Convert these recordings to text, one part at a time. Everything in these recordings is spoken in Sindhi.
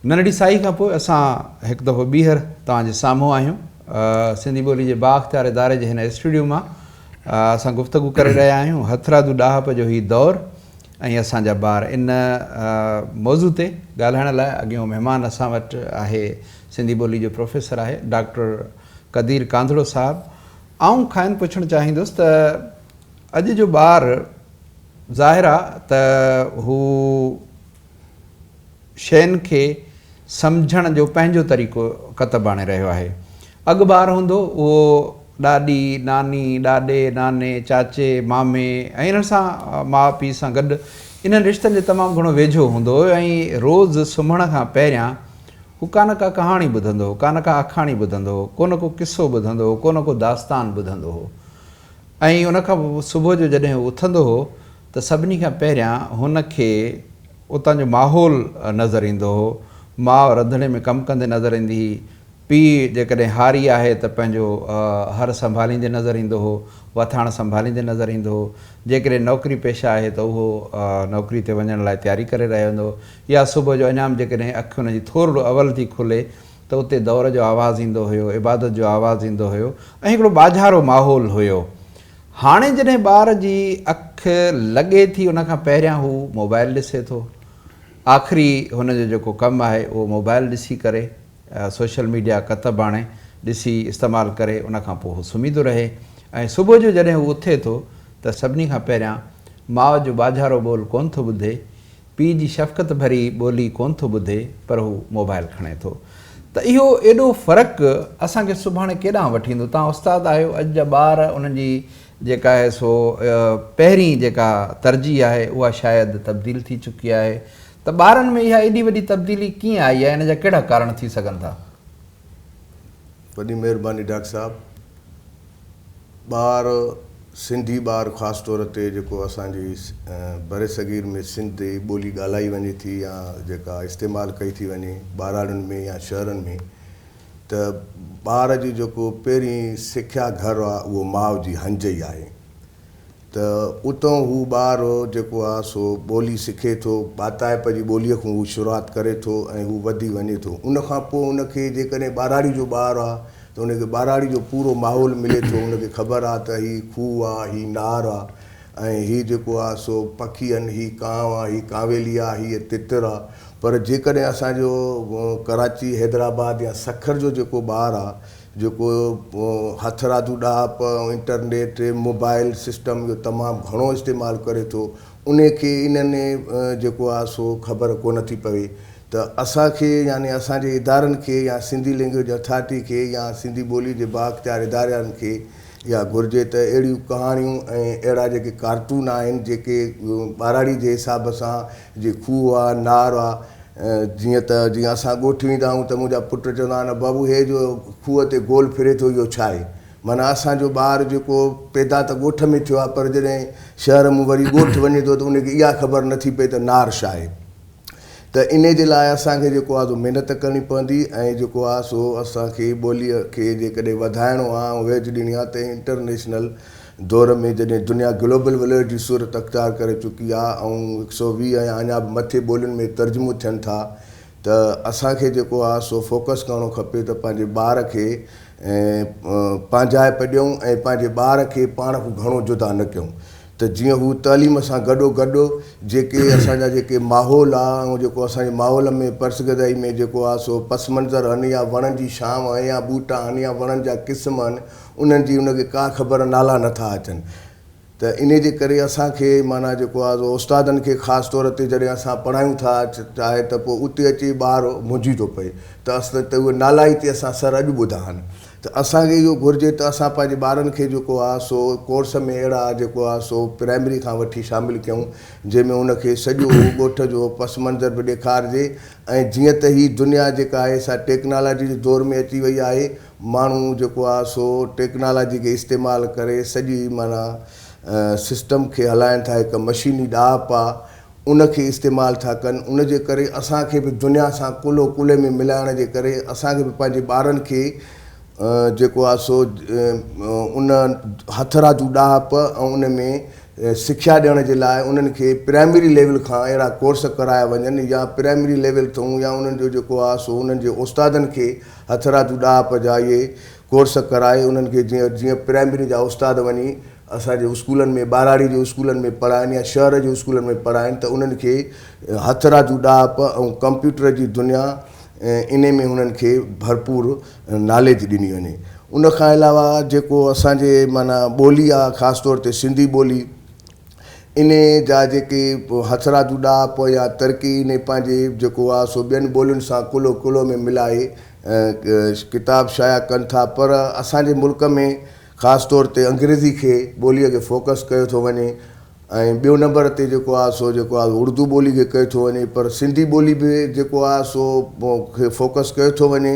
ننڍڙي سائي کان پوء اسان هڪ دفعو ٻيهر توهان جي سامهون آهيون. سنڌي ٻولي جي بااختيار اداري جي هن اسٽوڊيو مان اسان گفتگو ڪري رهيا آهيون هٿرادو ڏاهپ جو هي دور ۽ اسان جا ٻار ان موضوع تي ڳالهائڻ لاء اڳيون مهمان اسان وٽ آهي سنڌي ٻولي جو پروفيسر آهي ڊاڪٽر قدير ڪانڌڙو صاحب آئون کائن پڇڻ چاهيندس ته اڄ جو ٻار ظاهر آهي ته هو شين کي سمجهڻ جو پنهنجو طريقو ڪتب آڻي رهيو آهي. اڳ ٻار هوندو اهو ڏاڏي، ناني، ڏاڏي، ناني، چاچي، مامي ۽ انهن سان ماء پيء سان گڏ انهن رشتن جي تمام گهڻو ويجهو هوندو هو ۽ روز سمهڻ کان پهريان هو ڪانه ڪا ڪهاڻي ٻڌندو هو، ڪانه ڪا آکاڻي ٻڌندو هو، ڪونه ڪو قصو ٻڌندو هو، ڪونه ڪو داستان ٻڌندو هو. ۽ ان کان پوء صبح جو جڏهن هو اٿندو هو ته سڀني کان پهريان هن کي اتان جو ماحول نظر ايندو هو. ماء رڌڻي ۾ ڪم ڪندي نظر ايندي هئي، پيء جيڪڏهن هاري آهي ته پنهنجو هر سنڀاليندي نظر ايندو هو، وٿاڻ سنڀاليندي نظر ايندو هو، جيڪڏهن نوڪري پيشه آهي ته اهو نوڪري تي وڃڻ لاء تياري ڪري رهيو هوندو هو يا صبح جو اڃام جيڪڏهن اک ان جي ٿورڙو اول ٿي کلي ته اتي دؤر جو آواز ايندو هيو، عبادت جو آواز ايندو هيو ۽ هڪڙو ٻاجهارو ماحول هيو. هاڻي جڏهن ٻار جي اک لڳي ٿي ان کان پهريان هو موبائل ڏسي ٿو. آخري هن جو جيڪو ڪم آهي اهو موبائل ڏسي ڪري، سوشل ميڊيا ڪتب آڻي ڏسي استعمال ڪري ان کان پوء هو سمهي ٿو رهي ۽ صبح جو جڏهن هو اٿي ٿو ته سڀني کان پهريان ماء جو ٻاجهارو ٻول ڪونه ٿو ٻڌي پيء جي شفقت ڀري ٻولي ڪونه ٿو ٻڌي پر هو موبائل کڻي ٿو ته اهو ايڏو فرق اسان کي سڀاڻي ڪيڏانهن وٺي ويندو توهان استاد آهيو اڄ جا ٻار انهن جي جيڪا آهي سو پهرين جيڪا ترجيح آهي اها شايد تبديل ٿي چڪي آهي ته ٻارن ۾ اها ايڏي وڏي تبديلي ڪيئن آئي آهي ان جا ڪهڙا ڪارڻ ٿي سگهن ٿا؟ وڏي مهرباني ڊاڪٽر صاحب. ٻار سنڌي ٻار خاص طور تي جيڪو اسان جي برصغير ۾ سنڌي ٻولي ڳالهائي وڃي ٿي يا جيڪا استعمال ڪئي ٿي وڃي ٻهراڙين ۾ يا شهرن ۾ ته ٻار جي جيڪو پهرين سکيا گهر آهي اهو ماء جي هنج ئي آهي. ته اتان هو ٻار هو جيڪو آ سو ٻولي سکي ٿو، ٻاتائپ جي ٻوليء کان هو شروعات ڪري ٿو ۽ هو وڌي وڃي ٿو. ان کان پوء ان کي جيڪڏهن ٻهراڙي جو ٻار آ ته ان کي ٻهراڙي جو پورو ماحول ملي ٿو، ان کي خبر آ ته هي کوهه آ، هي نار آ ۽ هي جيڪو آ سو پکي آهن، هي ڪانء آ، هي ڪانويلي آ، هيء تتر آ. پر جيڪڏهن اسان جو ڪراچي، حيدرآباد يا سکر جو جيڪو ٻار آ، جيڪو هٿرادو ڏاهپ ۽ انٽرنيٽ موبائل سسٽم جو تمام گهڻو استعمال ڪري ٿو انهي کي انهن جيڪو آهي سو خبر ڪونه ٿي پوي ته اسان کي يعني اسان جي ادارن کي يا سنڌي لينگويج اٿارٽي کي يا سنڌي ٻولي جي بااختيار ادارن کي اها گهرجي ته اهڙيون ڪهاڻيون ۽ اهڙا جيڪي ڪارٽون آهن جيڪي ٻاراڙي جي حساب سان جي کوهه آ، نار آ، جيئن ته جيئن اسان ڳوٺ ويندا آهيون ته منهنجا پٽ چوندا آهن ته بابو هي جو کوهه تي گول ڦري ٿو اهو ڇا آهي؟ معنيٰ اسان جو ٻار جيڪو پيدا ته ڳوٺ ۾ ٿيو آهي پر جڏهن شهر مون وري ڳوٺ وڃي ٿو ته ان کي اها خبر نه ٿي پئي ته نار ڇا آهي؟ ته انهي جي لاء اسان کي جيڪو آهي سو محنت ڪرڻي پوندي ۽ جيڪو آهي سو اسان کي ٻوليء کي جيڪڏهن وڌائڻو آهي ۽ ويجهه ڏيڻي آهي ته انٽرنيشنل دور ۾ جڏهن دنيا گلوبل وليج جي صورت اختيار ڪري چڪي آهي ۽ هڪ سؤ ويهه ۽ اڃا به مٿي ٻولين ۾ ترجمو ٿين ٿا ته اسان کي جيڪو آهي سو فوڪس ڪرڻو کپي ته پنهنجي ٻار کي پنهنجائپ ڏيون ۽ پنهنجي ٻار کي پاڻ کان گهڻو جدا نه ڪيون ته جيئن هو تعليم سان گڏو گڏ جيڪي اسان جا جيڪي ماحول آهي ۽ جيڪو اسان جي ماحول ۾ پرسگدائي ۾ جيڪو آهي سو پس منظر آهن يا وڻن جي شانء آهي يا ٻوٽا آهن يا وڻن جا قسم آهن انهن جي ان کي ڪا خبر نالا نه ٿا اچن ته انهي جي ڪري اسان کي معنيٰ جيڪو آهي سو استادن کي خاص طور تي جڏهن اسان پڙهايون ٿا چاهي ته پوء اتي اچي ٻار منجهي ٿو پئي ته اصل ته اهي نالا ئي تي اسان سر اڄ ٻڌا آهن ته اسان کي اهو گهرجي ته اسان پنهنجي ٻارن کي جيڪو آهي سو ڪورس ۾ اهڙا جيڪو آهي سو پرائمري کان وٺي شامل ڪيون جنهن ۾ ان کي سڄو ڳوٺ جو پس منظر به ڏيکارجي ۽ جيئن ته هي دنيا جيڪا آهي سا ٽيڪنالاجي جي دور ۾ اچي وئي آهي ماڻهو جيڪو آ سو ٽيڪنالاجي کي استعمال ڪري سڄي معنيٰ سسٽم کي هلائين ٿا هڪ مشيني ڏاهپ آ ان کي استعمال ٿا ڪن ان جي ڪري اسان کي به دنيا سان ڪلهو ڪلهي ۾ ملائڻ جي ڪري اسان کي به پنهنجي ٻارن کي جيڪو آ سو ان هٿ رادو ڏاهپ ۽ ان ۾ سکيا ڏيڻ جي لاء انهن کي پرائمري ليول کان اهڙا ڪورس ڪرايا وڃن يا پرائمري ليول ٿئون يا انهن جو جيڪو آ سو انهن جي استادن کي هٿرادو ڏاهپ جا اهي ڪورس ڪرائي انهن کي جيئن جيئن پرائمري جا استاد وڃي اسان جي اسڪولن ۾ ٻهراڙي جي اسڪولن ۾ پڙهائن يا شهر جي اسڪولن ۾ پڙهائن ته انهن کي هٿرادو ڏاهپ ۽ ڪمپيوٽر جي دنيا انهي ۾ انهن کي ڀرپور ناليج ڏني وڃي ان کان علاوه جيڪو اسان جي معنيٰ ٻولي آهي خاص طور تي سنڌي ٻولي انهيء جا جيڪي هٿرادو ڏاهپ يا ترقي انهيء پنهنجي جيڪو آ سو ٻين ٻولين سان ڪلهو ڪلهو ۾ ملائي ڪتاب شايع ڪن ٿا پر اسان جي ملڪ ۾ خاص طور تي انگريزي کي ٻوليء کي فوڪس ڪيو ٿو وڃي ۽ ٻيو نمبر تي جيڪو آ سو جيڪو آ اردو ٻولي کي ڪيو ٿو وڃي پر سنڌي ٻولي به جيڪو آ سو کي فوڪس ڪيو ٿو وڃي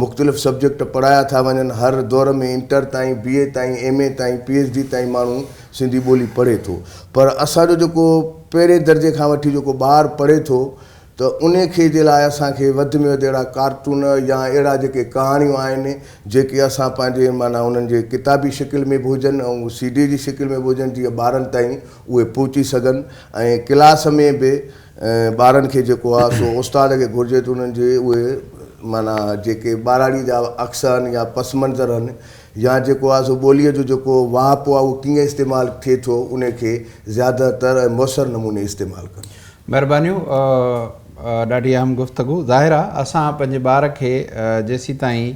مختلف سبجيڪٽ پڙهايا ٿا وڃن، هر دؤر ۾ انٽر تائين، بي اي تائين، ايم اي تائين، پي ايڇ ڊي تائين ماڻهو سنڌي ٻولي پڙهي ٿو پر اسان جو جيڪو پهرين درجي کان وٺي جيڪو ٻار پڙهي ٿو ته ان کي جي لاء اسان کي وڌ ۾ وڌ اهڙا ڪارٽون يا اهڙا جيڪي ڪهاڻيون آهن جيڪي اسان پنهنجي معنيٰ انهن جي ڪتابي شڪل ۾ به هجن ۽ سي ڊي جي شڪل ۾ به هجن جيئن ٻارن تائين اهي پهچي سگهن ۽ ڪلاس ۾ به ٻارن کي جيڪو آ سو استاد کي گهرجي ته انهن جي اهي معنيٰ جيڪي ٻاراڙي جا عڪس آهن يا پس منظر آهن يا جيڪو آ سو ٻوليء جو جيڪو واهپو آ اهو ڪيئن استعمال ٿئي ٿو انهي کي زياده تر ۽ موثر نموني استعمال ڪن. مهربانيون ڏاڍي اهم گفتگو ظاهر آ اسان پنهنجي ٻار کي جيسيتائين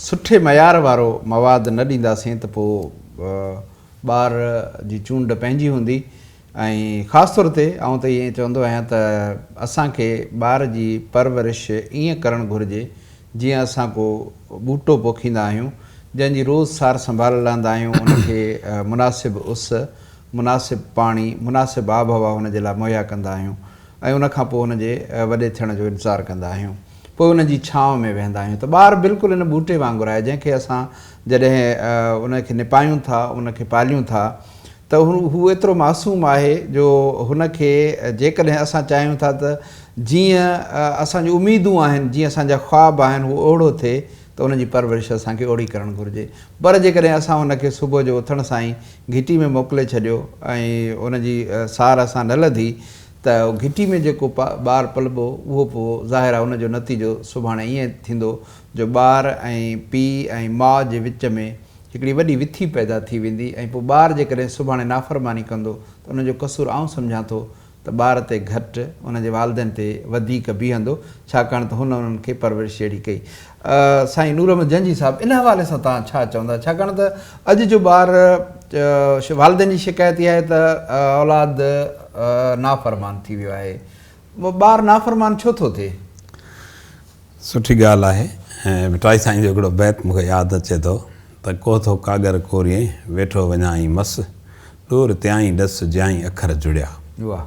سٺي معيار وارو مواد نه ڏينداسين ته پوء ٻار جي چونڊ پنهنجي هوندي. ۽ خاص طور تي آئون ته ائين چوندو آهيان ته اسان کي ٻار جي پرورش ائين ڪرڻ گهرجي جيئن اسان ڪو ٻوٽو پوکيندا آهيون جنهن جي روز سار سنڀال لهندا آهيون ان کي مناسب اس مناسب پاڻي مناسب آب هوا ان جي لاء مهيا ڪندا آهيون ۽ ان کان پوء ان جي وڏي ٿيڻ جو انتظار ڪندا آهيون پوء ان جي ڇانو ۾ ويهندا آهيون ته ٻار بلڪل ان ٻوٽي وانگر آهي جنهن کي اسان جڏهن ان کي نپايون ٿا ان کي پاليون ٿا ته هو ايترو معصوم آهي جو هن کي جيڪڏهن اسان چاهيون ٿا ته جيئن اسان جون اميدون آهن، جيئن اسان جا خواب آهن هو اهڙو ٿئي ته ان جي پرورش اسان کي اهڙي ڪرڻ گهرجي. پر جيڪڏهن اسان هن کي صبح جو اٿڻ سان ئي گهٽي ۾ موڪلي ڇڏيو ۽ ان جي سار اسان نه لڌي ته گهٽي ۾ جيڪو ٻار پلبو اهو پوء ظاهر آهي ان جو نتيجو سڀاڻي ائين ٿيندو جو ٻار ۽ پيء ۽ ماء جي وچ ۾ هڪڙي وڏي وٿي پيدا ٿي ويندي ۽ پوء ٻار جيڪڏهن سڀاڻي نافرماني ڪندو ته ان جو قصور آئون سمجهان ٿو ته ٻار تي گهٽ ان جي والدين تي وڌيڪ بيهندو ڇاڪاڻ ته هن انهن کي پرورش اهڙي ڪئي. سائين نور احمد جنجهي صاحب ان حوالي سان توهان ڇا چوندا ڇاڪاڻ ته اڄ جو ٻار والدين جي شڪايت اها آهي ته اولاد نافرمان ٿي ويو آهي ٻار نافرمان ڇو ٿو ٿئي؟ سٺي ڳالهه آهي ۽ ڀٽائي سائين جو هڪڙو بيت مون کي ياد اچي ٿو ته ڪو ٿو ڪاڳر ڪوريئي ويٺو وڃائين مس ڏور تيائين ڏس جيائين اکر جڙيا واهه.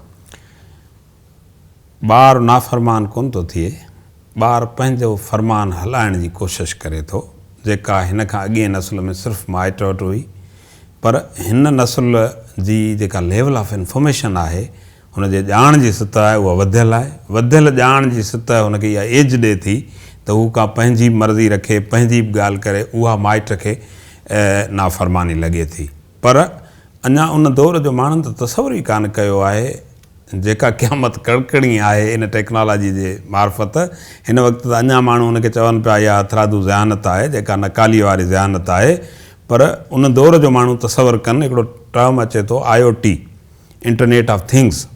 ٻار نافرمان ڪونه ٿو ٿئي ٻار پنهنجو فرمان هلائڻ جي ڪوشش ڪري ٿو جيڪا هن کان اڳئين نسل ۾ صرف مائٽ وٽ هئي پر هن نسل جي جيڪا ليول آف انفارميشن آهي هن جي ڄاڻ جي سطح آهي اها وڌيل آهي، وڌيل ڄاڻ جي سطح هن کي اها ايج ڏي ٿي ته هو ڪا پنهنجي مرضي رکي، پنهنجي به ڳالهه ڪري، اها مائٽ کي نافرماني لڳي ٿي. پر اڃا ان دور جو ماڻهن ته تصور ئي ڪانه ڪيو آهي، جيڪا قيامت ڪڙڪڻي آهي ان ٽيڪنالاجي جي معرفت، هن وقت ته اڃا ماڻهو ان کي چون پيا اها هٿرادو ذهانت آهي، جيڪا نڪاليء واري ذهانت آهي، پر ان دور جو ماڻهو تصور ڪن، هڪڙو ٽرم اچي ٿو IOT، internet of things,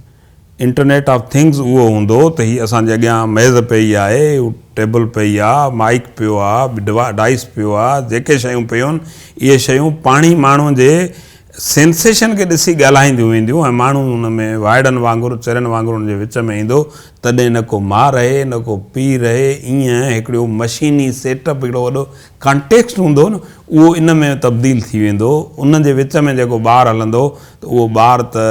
internet of things اهو هوندو ته هي اسان جي اڳيان ميز پئي آهي، ٽيبل پئي آ، مائيڪ پيو آ، ڊائس پيو آ، جيڪي شيون پيون اهي شيون پاڻهي ماڻهو جي سينسيشن کي ڏسي ڳالهائينديون وينديون ۽ ماڻهو ان ۾ وائڙن وانگر چرين وانگر ان جي وچ ۾ ايندو تڏهن نه ڪو ماء رهي نه ڪو پيء رهي ايئن هڪڙيو مشيني سيٽ اپ هڪڙو وڏو ڪانٽيڪسٽ هوندو نه اهو ان ۾ تبديل ٿي ويندو ان جي وچ ۾ جيڪو ٻار هلندو ته اهو ٻار ته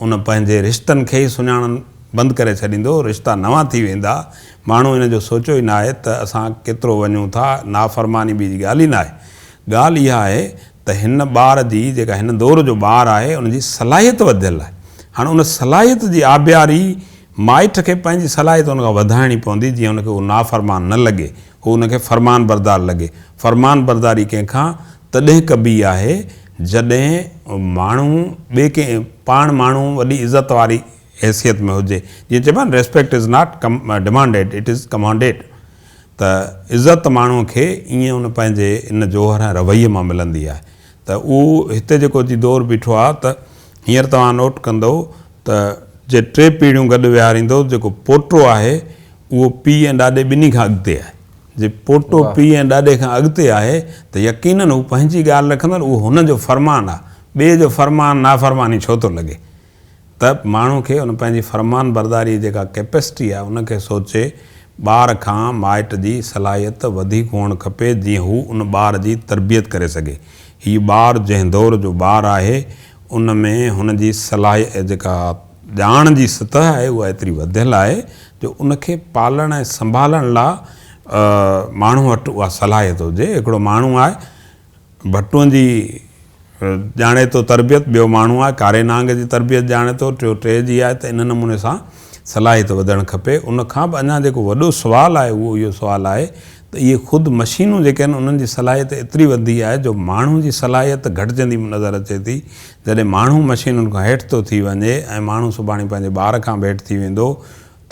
ان پنهنجي رشتن کي ئي سڃاڻڻ بند ڪري ڇڏيندو رشتا نوان ٿي ويندا ماڻهو ان جو سوچيو ئي ناهي ته اسان ڪيترو وڃون ٿا نافرماني ٻي جي ڳالهه ئي ناهي ڳالهه اها آهي ته هن ٻار جي جيڪا هن دور جو ٻار آهي ان جي صلاحيت وڌيل آهي هاڻ ان صلاحيت جي آبياري مائٽ کي پنهنجي صلاحيت ان کان وڌائڻي پوندي جيئن ان کي اهو نافرمان نه لڳي هو هن کي فرمانبردار لڳي. فرمانبرداري ڪنهن کان تڏهن ڪبي آهي جڏهن ماڻهو ٻئي ڪنهن پاڻ ماڻهو وڏي عزت واري حيثيت ۾ هجي. جيئن چئبو آهي نه Respect is not demanded it is commanded ته عزت ماڻهو کي ائين ان پنهنجي ان جوهر ۽ رويي مان ملندي آهي ته اهو هتي جيڪو جي دور بيٺو آهي ته هينئر توهان نوٽ ڪندئو ته جي ٽي پيڙهيون گڏ ويهاريندو، جيڪو پوٽو آهي، اهو پيء ۽ ڏاڏي ٻنهي کان اڳتي آهي. جي پوٽو پيء ۽ ڏاڏي کان اڳتي آهي ته يقينن هو پنهنجي ڳالهه رکندڙ، اهو هن جو فرمان آهي. ٻئي جو فرمان نافرماني ڇو ٿو لڳي؟ ته ماڻهو کي ان پنهنجي فرمان برداريء جي جيڪا ڪيپسٽي آهي، ان کي سوچي ٻار کان مائٽ جي صلاحيت وڌيڪ هئڻ کپي، جيئن هو ان ٻار جي تربيت ڪري سگهي. هي ٻار جنهن دور جو ٻار آهي، ان ۾ هن جي صلاح جيڪا ڄاڻ جي سطح آهي اها ايتري وڌيل آهي جو ان کي پالڻ ۽ سنڀالڻ لا ماڻهو وٽ اها صلاحيت هجي هڪڙو ماڻهو آهي ڀٽون جي ڄاڻي ٿو تربيت ٻيو ماڻهو آهي ڪاري نانگ جي تربيت ڄاڻي ٿو ٽيو ٽي جي آهي ته ان نموني سان صلاحيت وڌڻ کپي ان کان به اڃا جيڪو وڏو سوال آهي اهو اهو سوال آهي ته اهي خود مشينون جيڪي آهن انهن جي صلاحيت ايتري وڌي آهي جو ماڻهو جي صلاحيت گهٽجندي به نظر اچي ٿي جڏهن ماڻهو مشينن کان هيٺ ٿو ٿي وڃي ۽ ماڻهو سڀاڻي پنهنجي ٻار کان به هيٺ ٿي ويندو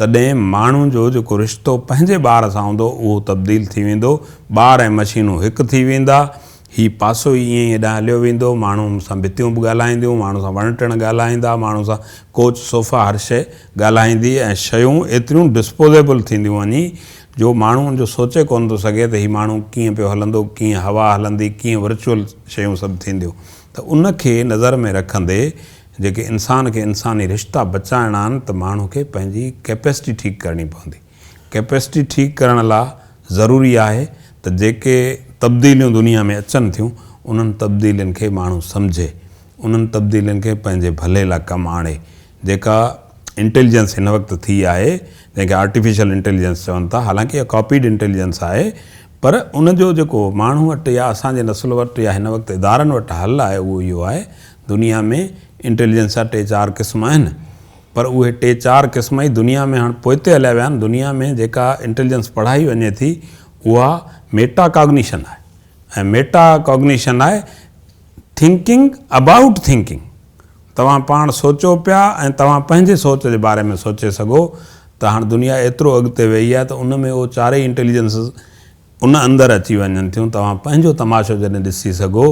تڏهن ماڻهو جو جيڪو رشتو پنهنجي ٻار سان هوندو اهو تبديل ٿي ويندو ٻار ۽ مشينون هڪ ٿي ويندا هي پاسو ئي ائين ئي هيڏانهن هليو ويندو ماڻهو سان ڀتيون به ڳالهائينديون ماڻهو سان وڻ ٽڻ ڳالهائيندا ماڻهو سان ڪوچ صوفا هر شيء ڳالهائيندي ۽ شيون ايتريون ڊسپوزيبل ٿينديون وڃي جو ماڻهو ان جو سوچي ڪونه ٿو سگهي ته هي ماڻهو ڪيئن پيو هلندو، ڪيئن هوا هلندي، ڪيئن ورچوئل شيون سڀ ٿينديون ته ان کي نظر ۾ رکندي جيڪي انسان کي انساني رشتا بچائڻا آهن ته ماڻهو کي پنهنجي ڪيپيسٽي ٺيڪ ڪرڻي پوندي. ڪيپيسٽي ٺيڪ ڪرڻ لا ضروري آهي ته جيڪي تبديليون دنيا ۾ اچن ٿيون انهن تبديلين کي ماڻهو سمجهي، انهن تبديلين کي پنهنجي ڀلي لا ڪم آڻي. جيڪا انٽيليجنس هن وقت ٿي آهي، جنهن کي آرٽيفيشل انٽيليجنس چون ٿا، حالانڪ اها ڪاپيڊ انٽيليجنس آهي، پر ان جو جيڪو ماڻهن وٽ يا اسان جي نسل وٽ يا هن وقت ادارن وٽ حل آهي اهو اهو آهي. دنيا ۾ انٽيليجنس جا ٽي چار قسم آهن، پر اهي ٽي چار قسم ئي دنيا ۾ هاڻ پوئتي هليا ويا آهن. دنيا ۾ جيڪا انٽيليجنس پڙهائي وڃي ٿي اها ميٽا ڪاگنيشن آهي ۽ ميٽا ڪاگنيشن آهي. Thinking About Thinking، توهان پاڻ سوچو پيا ۽ توهان پنهنجي سوچ جي باري ۾ سوچي سگهو ته هاڻ دنيا ايترو اڳتي ويئي آهي ته ان ۾ اهو چارئي انٽيليجنسز ان اندر اچي وڃن ٿيون توهان پنهنجو تماشو جڏهن ڏسي سگهو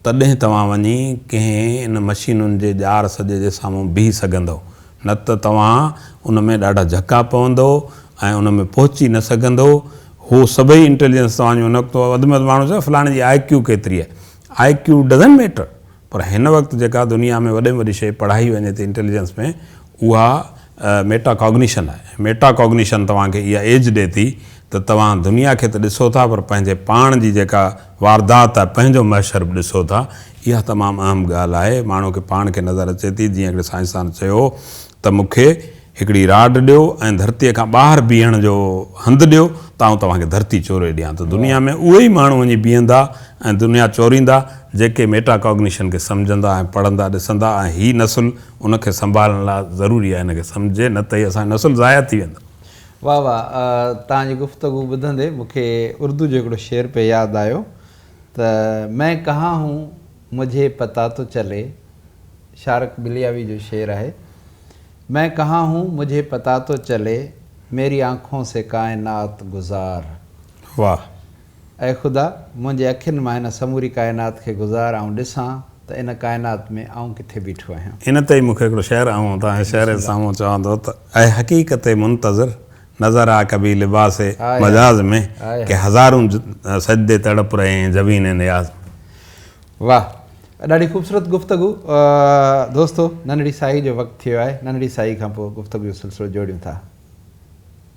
تڏهن توهان وڃي ڪنهن ان مشينن جي ڄار سڄي جي سامهون بيهي سگهندئو نه ته توهان ان ۾ ڏاڍا جهڪا پوندئو ۽ ان ۾ پهچي نه سگهندئو هو سڀئي انٽيليجنس توهان جون ان وقت وڌ ۾ وڌ ماڻهو چوندو فلاڻي جي آء ڪيو ڪيتري آهي آء ڪيو ڊزنٽ ميٽر پر هن وقت جيڪا دنيا ۾ وڏي ۾ وڏي شيء پڙهائي وڃي ٿي انٽيليجنس ۾ اها ميٽا ڪاگنيشن آهي. ميٽا ڪاگنيشن توهان کي اها ايج ڏي ٿي ته توهان دنيا کي ته ڏسو ٿا پر پنهنجي پاڻ جي جيڪا واردات آهي پنهنجو محشر به ڏسو ٿا اها تمام اهم ڳالهه آهي ماڻهو کي پاڻ کي نظر اچي ٿي جيئن هڪڙي سائنسدان چيو هو ته مون کي هڪڙي راڊ ڏيو ۽ ڌرتيء کان ٻاهر بيهڻ جو هنڌ ڏيو ته آئون توهان کي ڌرتي چوري ڏيان ته دنيا ۾ اهي ئي ماڻهو وڃي بيهندا ۽ دنيا چوريندا جيڪي ميٽاڪاگنيشن کي سمجهندا ۽ پڙهندا ڏسندا ۽ هي نسل ان کي سنڀالڻ لاء ضروري آهي ان کي سمجهي نه ته هي اسان جو نسل ضايع ٿي ويندو. واھ واھ توهان جي گفتگو ٻڌندي مون کي اردو جو هڪڙو شعر پئي ياد آيو ته مين ڪها هون مجهي پتا تو چلي شارق بلياوي جو شعر آهي. مين ڪهان هون مجهي پتا تو چلي ميري آنکون سي ڪائنات گذار واهه اي خدا منهنجي اکين مان هن سموري ڪائنات کي گذار آئون ڏسان ته ان ڪائنات ۾ آئون ڪٿي بيٺو آهيان. ان تي ئي مونکي هڪڙو شعر آئون توهان جي شعر جي سامهون چوان ٿو ته اي حقيقت منتظر نظر آ ڪبي لباس مجاز ۾ ڪي هزارون سجدي تڙپ رهي هين جبين نياز ۾. واه ڏاڍي خوبصورت گفتگو دوستو ننڍڙي ساهي جو وقت ٿي ويو آهي ننڍڙي ساهي کان پوء گفتگو جو سلسلو جوڙيون ٿا.